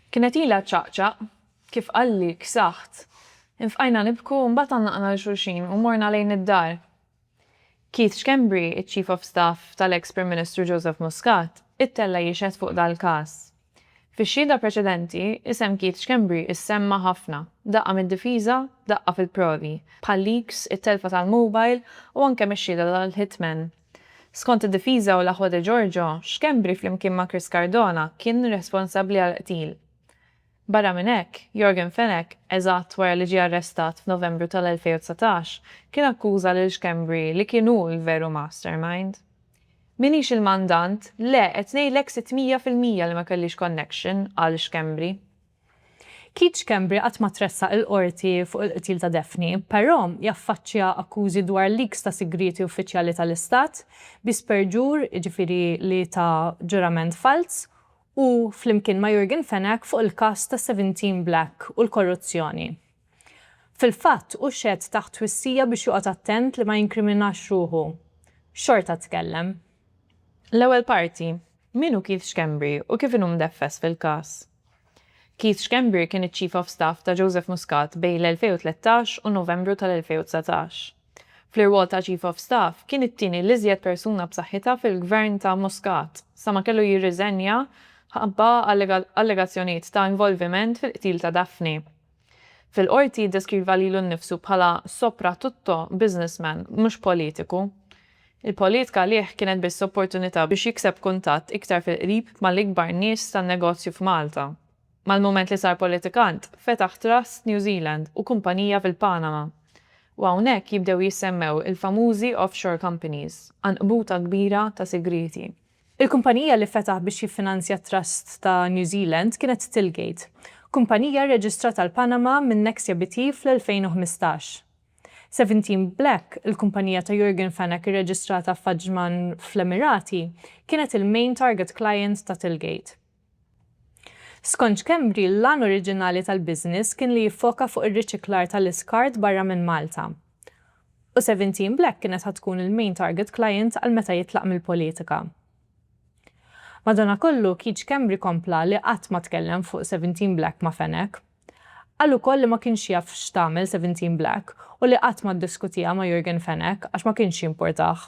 Kienet ilha ċċaqċaq. Kif qalli, ksaħt. Infqajna nibku u mbagħad għannaqna 'l xulxin u morna lejn id-dar. Keith Schembri, iċ-Chief of Staff tal-eks Prim Ministru Joseph Muscat, ittella' jixhed fuq dal-każ. Fix-xhieda preċedenti, isem Keith Schembri issemma' ħafna, daqqa mid-difiża, daqqa fil-provi, bħal leaks, it-telfa tal-mobile u anke mix-xhieda tal-hitman Skont id-difiża u l-aħwa De Giorgio, Schembri flimkien ma' Chris Cardona kien responsabbli għall-qtil. Barra minn hekk, Yorgen Fenech, eżatt wara li ġie arrestat f'Novembru tal-2019, kien akkuża lil Schembri li kien hu l-veru mastermind. M'iniex il-mandant, le qed ngħidlek sitt mija fil-mija li ma kellix connection, qal Schembri. Keith Schembri qatt ma tressaq il-Qorti fuq il-qtil ta' Daphne, però jaffaċċja akkużi dwar leaks ta' sigrieti uffiċjali tal-Istat, bi sperġur, jiġifieri li ta ġurament falz, u, flimkien ma' Yorgen Fenech, fuq il-każ ta' Seventeen Black u l-korruzzjoni. Fil-fatt, hu xehed taħt twissija biex joqgħod attent li ma jinkriminax ruħu. Xorta tkellem. L-ewwel parti, Min hu Keith Schembri u kif inhu mdeffes fil-każ? Keith Schembri kien iċ-Chief of Staff ta' Joseph Muscat bejn l-2013 u Novembru tal-2019. Fl-irwol ta' Chief of Staff, kien it-tieni l-iżjed persuna b'saħħitha fil-Gvern ta' Muscat, sa ma kellu jirriżenja ħabba allegazzjonijiet ta' involviment fil-qtil ta' Daphne. Fil-Qorti jiddeskriva lilu nnifsu bħala sopratutto businessman, mhux politiku. Il-politka għalih kienet biss opportunità biex jikseb kuntatt iktar fil-qrib mal-ikbar nies tan-negozju f'Malta. Mal-mument li sar politikant, fetaħ trust New Zealand u kumpanija fil-Panama. U hawnhekk jibdew jissemmew il-famużi offshore companies. Għanqbuta kbira ta' sigrieti. Il-kumpanija li fetaħ biex jiffinanzja t-trust ta' New Zealand kienet Tilgate, kumpanija rreġistrata l-Panama minn Nexia BT fl-2015. Seventeen Black, il-kumpanija ta' Jurgen Fenech irreġistrata f'Ajman fl-Emirati, kienet il-main target client ta' Tilgate. Skont Schembri, l-għan oriġinali tal-business kien li jiffoka fuq ir-riċiklar tal-iskart barra minn Malta. U Seventeen Black kienet ħa tkun il-main target client għal meta jitlaq mill-politika. Madanakollu, Keith Schembri kompla li qatt ma tkellem fuq Seventeen Black ma' Fenech. Qal ukoll li ma kienx jaf x'tagħmel Seventeen Black u li qatt ma ddiskutiha ma' Yorgen Fenech għax ma kienx jimpurtah.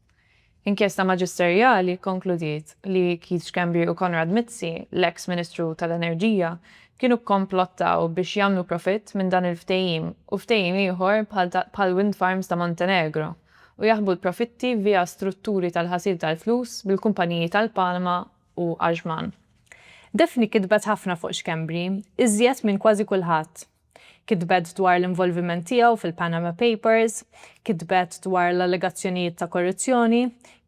Inkjesta maġisterjali kkonkludiet li Keith Schembri u Konrad Mizzi, l-eks Ministru tal-Enerġija, kienu kkomplottaw biex jagħmlu profitt minn dan il-ftehim u ftehim ieħor bħall-wind farms ta' Montenegro u jaħbu l-profitti via strutturi tal-ħasil tal-flus bil-kumpaniji tal-Palma u Ajman. Daphne kitbet ħafna fuq Schembri, iżjed minn kważi kulħadd. Kitbet dwar l-involviment tiegħu fil-Panama Papers, kitbet dwar l-allegazzjonijiet ta' korruzzjoni,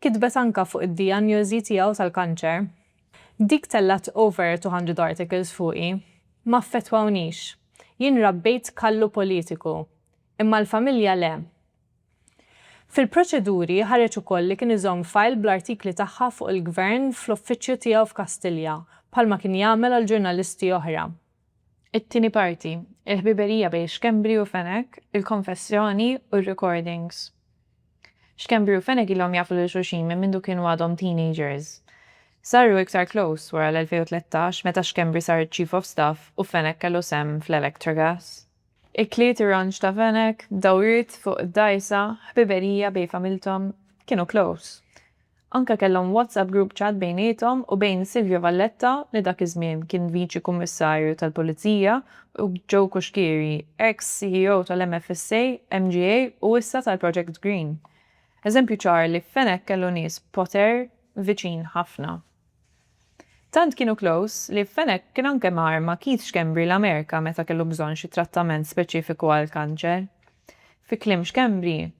kitbet anke fuq id-dijanjosi tiegħu tal-kanċer. Dik tellgħet over two hundred articles fuqi. Ma affettwawnix. Jien rabbejt kallu politiku. Imma l-familja le. Fil-proċeduri ħareġ ukoll li kien iżomm file bl-artikli tagħha fuq il-Gvern fl-uffiċċju tiegħu f'Kastilja, bħalma kien jagħmel għal ġurnalisti oħra. It-tieni parti, il-ħbiberija bejn Schembri u Fenech, il-konfessjoni u r-recordings. Schembri u Fenech ilhom jafu lil xulxin minn mindu kienu għadhom teenagers. Saru iktar close wara l-2013 meta Schembri sar Chief of Staff u Fenech kellu sehem fl-Electragas. Ikliet ir-ranċ ta' Fenech, dawriet fuq id-dgħajsa, ħbiberija bejn familthom, kienu close. Anke kellhom WhatsApp group chat bejniethom u bejn Silvio Valletta li dak iż-żmien kien Viċi Kummissarju tal-Pulizija u Joe Cuschieri, ex CEO tal-MFSA, MGA u issa tal-Project Green. Eżempju ċar li Fenech kellu nies b'poter viċin ħafna. Tant kienu close li Fenech kien anke mar ma' Keith Schembri l-Amerika meta kellu bżonn xi trattament speċifiku għall-kanċer. Fi kliem Schembri,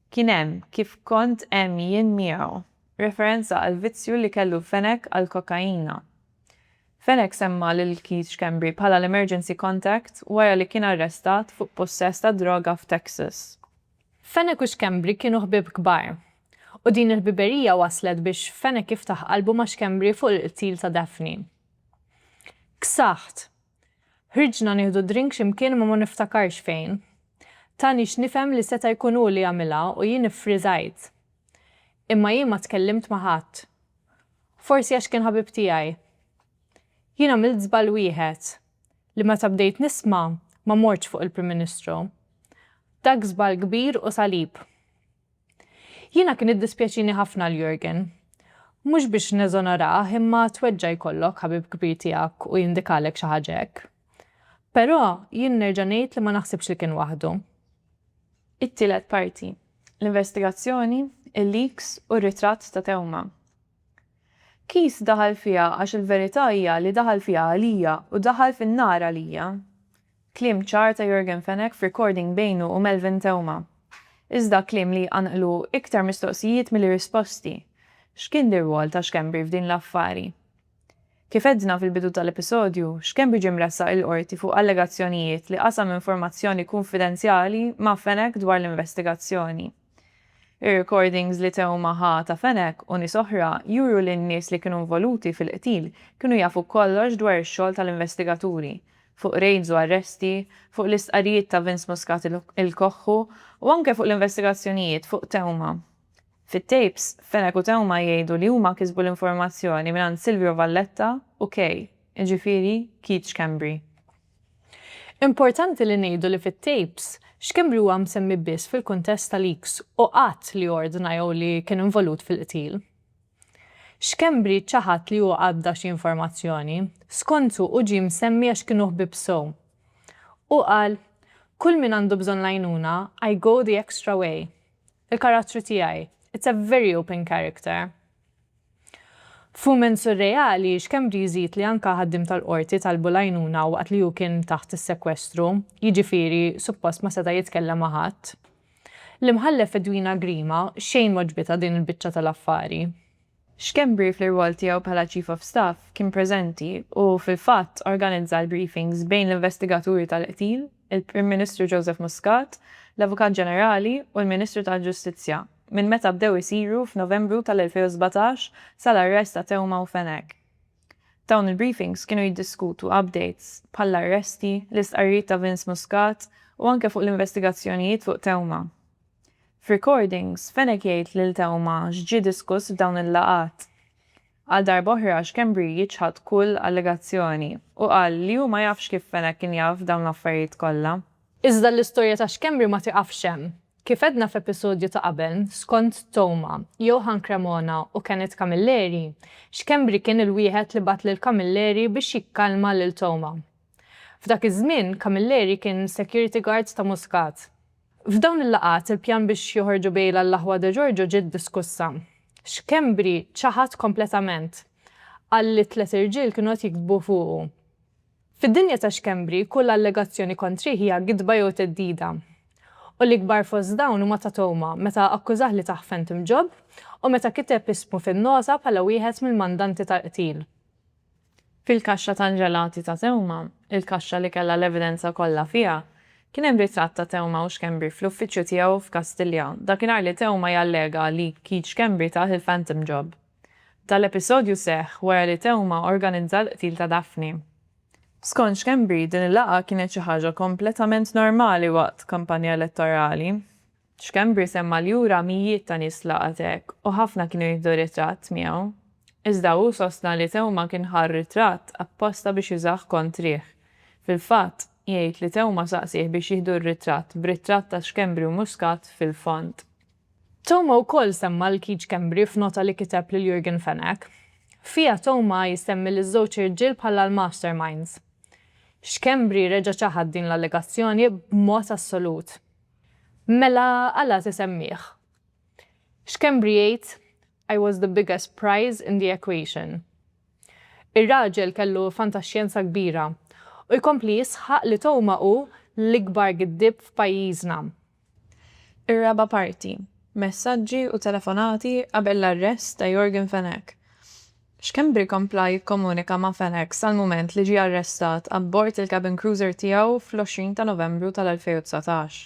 Kien hemm, kif kont hemm jien miegħu, referenza għall-vizzju li kellu Fenech għall-kokaina. Fenech semma lil Keith Schembri bħala l-emergency contact wara li kien arrestat fuq pussess tad-droga f'Texas. Fenech u Schembri kienu ħbieb kbar, U din il-ħbiberija wasslet biex Fenech jiftaħ qalbu ma' Schembri fuq il-qtil ta' Daphne. Ksaħt. Ħriġna nieħdu drink xi mkien imma ma niftakarx fejn. Ta nix nifhem li seta' jkun hu li għamilha u jien iffriżajt. Imma jien ma tkellimt ma' ħadd. Forsi għax kien ħabib tiegħi. Jien għamilt żball wieħed, li meta bdejt nisma' ma mortx fuq il-Prim Ministru. Dak żball kbir u salib. Jiena kien iddispjaċini ħafna għal Jurgen. Mhux biex neżonorah imma tweġġa' jkollok ħabib kbir tiegħek u jindikalek xi ħaġa hekk. Però jien nerġa' ngħid li ma naħsibx li kien waħdu. It-tielet parti, l-investigazzjoni, il-leaks u r-ritratt ta' Theuma. Keith daħal fiha għax il-verità hija li daħal fiha għalija u daħal fin-nar għalija. Kliem ċar ta' Yorgen Fenech f'recording bejnu u Melvin Theuma. Iżda kliem li jqanqlu iktar mistoqsijiet milli risposti. X'kien l-irwol ta' Schembri f'din l-affari? Kif għedna fil-bidu tal-episodju, Schembri ġie mressaq il-Qorti fuq allegazzjonijiet li qasam informazzjoni kunfidenzjali ma' Fenech dwar l-investigazzjoni. Ir-recordings li Theuma ħa ta' Fenech u nies oħra juru li n-nies li kienu involuti fil-qtil kienu jafu kollox dwar ix-xogħol tal-investigaturi, fuq rejds u arresti, fuq l-istqarrijiet ta' Vince Muscat il-Koħħu u anke fuq l-investigazzjonijiet fuq Theuma. Fit-tapes, Fenech u Theuma jgħidu li huma kisbu l-informazzjoni mingħand Silvio Valletta u Kay, jiġifieri Keith Schembri. Importanti li ngħidu li fit-tapes, Schembri huwa msemmi biss fil-kuntest ta' leaks u qatt li ordna jew li kien involut fil-qtil. Schembri ċaħad li hu għadda xi informazzjoni. Skontu hu ġie msemmi għax kienu ħbieb sew. Hu qal, Kull min għandu bżonn l-għajnuna, I go the extra way. Il-karattru tiegħi, it's a very open character. F'mument surreali, Schembri jżid li anke ħaddiem tal-Qorti talbu l-għajnuna waqt li hu kien taħt is-sekwestru, jiġifieri suppost ma seta' jitkellem ma' ħadd. L-Imħallef Edwina Grima xejn m'għoġbitha din il-biċċa tal-affari. Schembri fl-irwol tiegħu bħala Chief of Staff kien preżenti u fil-fatt organizza l-briefings bejn l-investigaturi tal-qtil, il-Prim Ministru Joseph Muscat, l-Avukat Ġenerali u l-Ministru tal-Ġustizzja. minn meta bdew isiru f'Novembru tal-2017 sal-arrest ta' Theuma u Fenech. Dawn il-briefings kienu jiddiskutu updates bħall-arresti, l-istqarrijiet ta' Vince Muscat u anke fuq l-investigazzjonijiet fuq Theuma. F'recordings, Fenech jgħid lil Theuma x'ġie diskuss f'dawn il-laqgħat. Għal darba oħra Schembri jiċħad kull allegazzjoni u qal li hu ma jafx kif Fenech kien jaf dawn l-affarijiet kollha. Iżda l-istorja ta' Schembri ma tieqafx hemm. Kif għedna f'episodju ta' qabel, skont Toma, Johann Cremona u Kenneth Camilleri, Schembri kien il-wieħed li bagħat lil Camilleri biex jikkalma lil Toma. F'dak iż-żmien, Camilleri kien security guard ta' Muscat. F'dawn il-laqgħat, il-pjan biex joħorġu bejl għall-aħwa De Giorgio ġiet diskussa. Schembri ċaħad kompletament. Qal li tliet irġiel kienu qed jiktbu fuqu. Fid-dinja ta' Schembri, kull allegazzjoni kontrih hija gidba jew theddida. U l-ikbar fost dawn huma ta' Toma, meta akkużah li tah Phantom Job u meta kiteb ismu fin-nota bħala wieħed mill-mandanti tal-qtil. Fil-kaxxa tal-ġelati ta' Theuma, il-kaxxa li kellha l-evidenza kollha fiha, kien hemm ritratt ta' Theuma u Schembri fl-uffiċċju tiegħu f'Kastilja, dakinhar li Theuma jallega li Keith Schembri tah il-phantom job. Dan l-episodju seħħ wara li Theuma organizza l-qtil ta' Daphne. Skont Schembri, din il-laqgħa kienet xi ħaġa kompletament normali waqt kampanja elettorali. Schembri semma li hu ra mijiet ta' nies f'laqgħat hekk u ħafna kienu jieħdu ritratt miegħu. Iżda hu sostna li Theuma kien ħa r-ritratt apposta biex jużah kontrih. Fil-fatt, jgħid li Theuma saqsieh biex jieħdu r-ritratt b'ritratt ta' Schembri u Muscat fil-fond. Theuma wkoll semma 'l Keith Schembri f'nota li kiteb lil Yorgen Fenech. Fiha Theuma jsemmi liż-żewġ irġiel bħala l-masterminds. Schembri reġa' ċaħad din l-allegazzjoni b'mod assolut. Mela għala tisemmih? Schembri jgħid, I was the biggest prize in the equation. Ir-raġel kellu fantaxjenza kbira u jkompli jisħaq li Toma hu l-ikbar giddieb f'pajjiżna. Ir-raba' parti, Messaġġi u telefonati qabel l-arrest ta' Yorgen Fenech. Schembri kompla jikkomunika ma' FedEx sal-mument li ġie arrestat abbord il-cabin cruiser tiegħu fl-20 ta' Novembru tal-2019.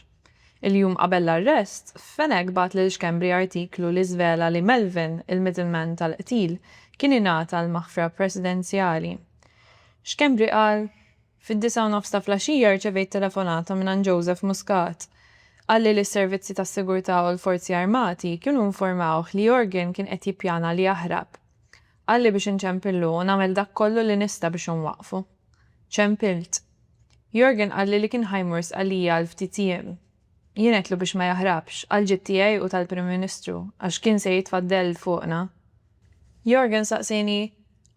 Il-jum qabel l-arrest, Fenech bagħat lil Schembri artiklu li żvela li Melvin, il-middleman tal-qtil, kien ingħata l-maħfra presidenzjali. Schembri qal, Fid-disgħa u nofs ta' flaxija rċevejt telefonata mingħand Joseph Muscat. Qalli li s-servizzi tas-sigurtà u l-Forzi Armati kienu informawh li Yorgen kien qed jippjana li jaħrab. Qalli biex inċempillu u nagħmel dak kollu li nista' biex inwaqqfu. Ċempilt. Yorgen qalli li kien ħa jmur Sqallija għal ftit jiem. Jien għedtlu biex ma jaħrabx, għall-ġid tiegħi u tal-Prim Ministru, għax kien se jitfa' dell fuqna. Yorgen saqsieni,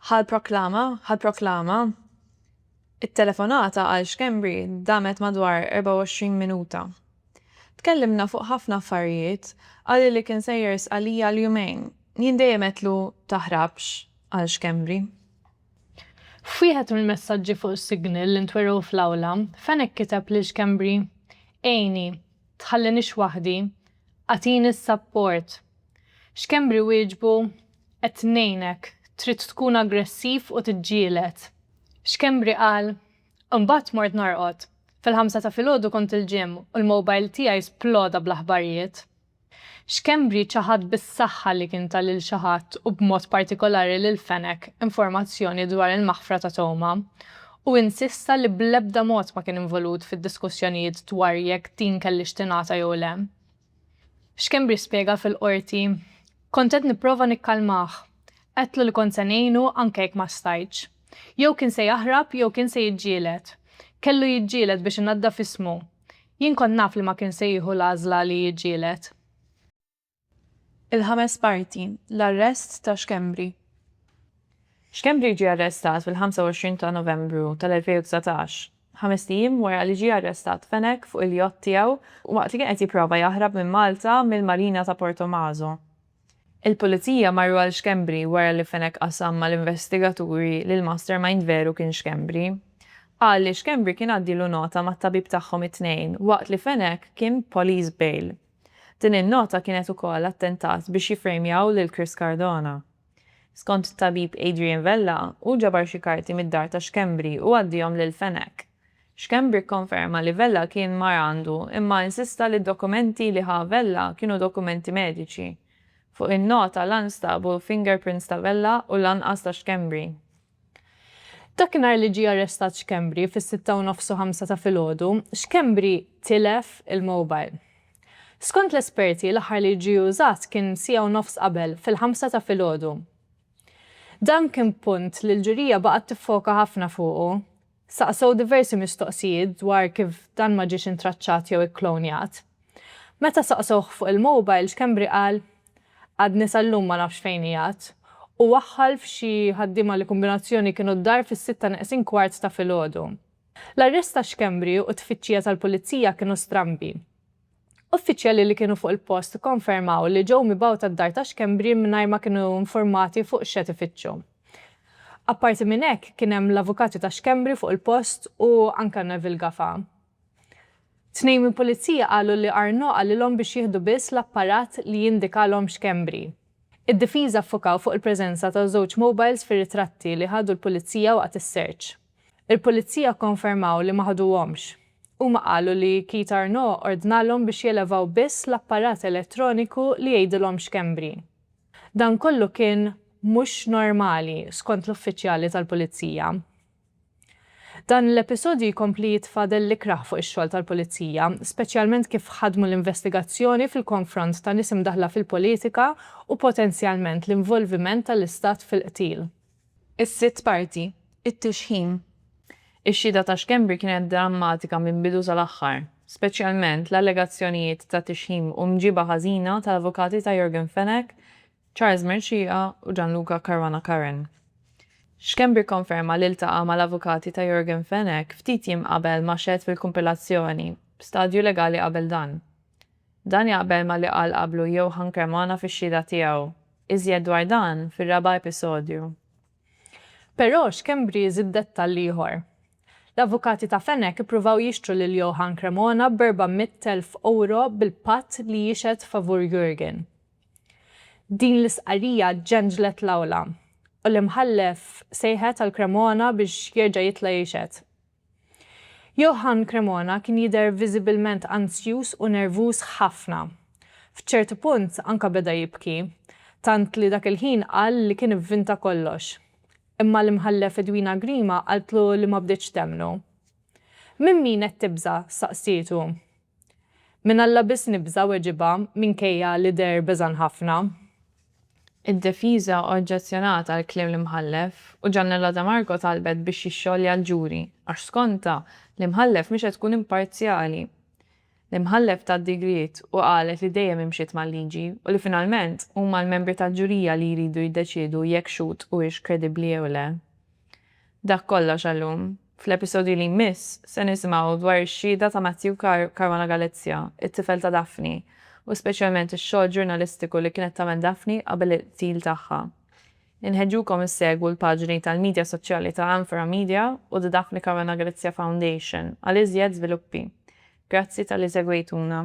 Ħa l-proklama? Ħa l-proklama? It-telefonata għal Schembri damet madwar 24 minuta. Tkellimna fuq ħafna affarijiet, qalli li kien sejjer jrisq għalija għal jumejn. Jien dejjem għedtlu taħrabx, qal Schembri. F'wieħed mill-messaġġi fuq is-signal li ntwerew fl-awla, Fenech kiteb lil Schembri, Għinni, tħallinix waħdi, agħtini s-sapport. X'Kembri wieġbu, Qed ngħinek, trid tkun aggressiv u tiġġieled. X'Kembri qal, Imbagħad mort norqod. Fil-ħamsa ta' filgħodu kont il-gym u l-mobile tiegħi sploda bl-aħbarijiet. X'Kembri ċaħad bis-saħħa li kien ta lil xi ħadd u b'mod partikolari lil Fenech informazzjoni dwar il-maħfra ta' Toma u insista li bl-ebda mod ma kien involut fid-diskussjonijiet dwar jekk din kellhiex tingħata jew le. Schembri spjega fil-Qorti, Kont qed nipprova nikkalmah. Għedtlu li kont se ngħinu anke jekk ma stajtx. Jew kien se jaħrab jew kien se jiġġieled. Kellu jiġġieled biex inaddaf ismu. Jien kont naf li ma kien se jieħu l-għażla li jiġġieled. Il-ħames parti, l-arrest ta' Schembri. Schembri ġie arrestat fil-25 ta' Novembru tal-2019 Ħamest ijiem wara li ġie arrestat Fenech fuq il-yacht tiegħu waqt li kien qed jipprova jaħrab minn Malta mill-marina ta' Portomaso. Il-Pulizija marru għal Schembri wara li Fenech qasam mal-investigaturi li l-mastermind veru kien Schembri. Qal li Schembri kien għaddielu nota mat-tabib tagħhom it-Tnejn waqt li Fenech kien police bail. Din in-nota kienet ukoll attentat biex jiffrejmjaw lil Chris Cardona. Skont it-tabib Adrian Vella, hu ġabar xi karti mid-dar ta' Schembri u għaddiehom lil Fenech. Schembri kkonferma li Vella kien mar għandu imma insista li d-dokumenti li ħa Vella kienu dokumenti mediċi. Fuq in-nota la nstabu fingerprints ta' Vella u lanqas ta' Schembri. Dakinhar li ġie arrestat Schembri fis-sitta u nofs u ħamsa ta' filgħodu, Schembri tilef il-mobile. Skont l-esperti, l-aħħar li ġie użat kien siegħa u nofs qabel, fil-ħamsa ta' filgħodu. Dan kien punt li l-ġurija baqgħet tiffoka ħafna fuqu. Saqsew diversi mistoqsijiet dwar kif dan ma ġiex intraċċat jew ikklonjat. Meta saqsewh fuq il-mobile, Schembri qal, Għadni sal-lum ma nafx fejn qiegħed. Hu waħħal f'xi ħaddiema li kombinazzjoni kienu d-dar fis-sitta neqsin kwart ta' filgħodu. L-arrest ta' Schembri u t-tfittxija tal-Pulizija kienu strambi. Uffiċjali li kienu fuq il-post ikkonfermaw li ġew mibgħuta d-dar ta' Schembri mingħajr ma kienu infurmati fuq x'qed ifittxu. Apparti minn hekk, kien hemm l-avukati ta' Schembri fuq il-post u anke Neville Gafa. Tnejn mill-Pulizija qalu li Arnaud qalilhom biex jieħdu biss l-apparat li jindikalhom Schembri. Id-difiża ffukaw fuq il-preżenza ta' żewġ mobiles fir-ritratti li ħadu l-Pulizija waqt is-search. Il-Pulizija kkonfermaw li ma ħaduhomx. Huma qalu li Keith Arnaud ordnalhom biex jelevaw biss l-apparat elettroniku li jgħidilhom x'Kembri. Dan kollu kien mhux normali, skont l-uffiċjali tal-Pulizija. Dan l-episodju jkompli jitfa' dell ikrah fuq ix-xogħol tal-Pulizija, speċjalment kif ħadmu l-investigazzjoni fil-konfront ta' nies imdaħħla fil-politika u potenzjalment l-involviment tal-Istat fil-qtil. Is-sitt parti, it-tixħim. Ix-xhieda ta' Schembri kienet drammatika minn bidu sal-aħħar, speċjalment l-allegazzjonijiet ta' tixħim u mġiba ħażina tal-avukati ta' Yorgen Fenech, Charles Mercieca u Gianluca Caruana Curran. Schembri kkonferma li ltaqa' mal-avukati ta' Yorgen Fenech ftit jiem qabel ma xehed fil-kumpilazzjoni, b'stadju legali qabel dan. Dan jaqbel ma' li qal qablu Johann Cremona fix-xhieda tiegħu. Iżjed dwar dan fir-raba' episodju. Però Schembri żied dettall ieħor. L-avukati ta' Fenech ippruvaw jixtru lil Johann Cremona b'erba' mitt elf ewro bil-patt li jixhed favur Jurgen. Din l-istqarrija ġenġlet l-awla u l-Imħallef sejħet għal Cremona biex jerġa' jitla' jixhed. Johann Cremona kien jidher viżibilment anzjuż u nervuż ħafna. F'ċertu punt anka beda jibki, tant li dak il-ħin qal li kien ivvinta kollox. Imma l-Imħallef Edwina Grima qaltlu li ma bdietx temmnu. Minn min qed tibża'? staqsietu. Minn Alla biss nibża', weġibha, minkejja li deher beżgħan ħafna. Id-defiża oġġezzjonat għall-kliem l-Imħallef u Giannella De Marco talbet biex jixxolja l-ġuri għax skontha, l-Imħallef mhix qed tkun imparzjali. L-Imħallef tat digriet u qalet li dejjem imxiet mal-liġi u li finalment huma l-membri tal-ġurija li jridu jiddeċiedu jekk Schutt huwiex kredibbli jew le. Dak kollox għal-lum. Fl-episodju li jmiss, se nisimgħu dwar ix-xhieda ta' Matthew Caruana Galizia, it-tifel ta' Daphne, u speċjalment ix-xogħol ġurnalistiku li kienet tagħmel Daphne qabel il-qtil tagħha. Inħeġġukom issegwu l-paġni tal-midja soċjali ta' Anfora Media u The Daphne Caruana Galizia Foundation għal iżjed żviluppi. Grazzi talli segwejtuna.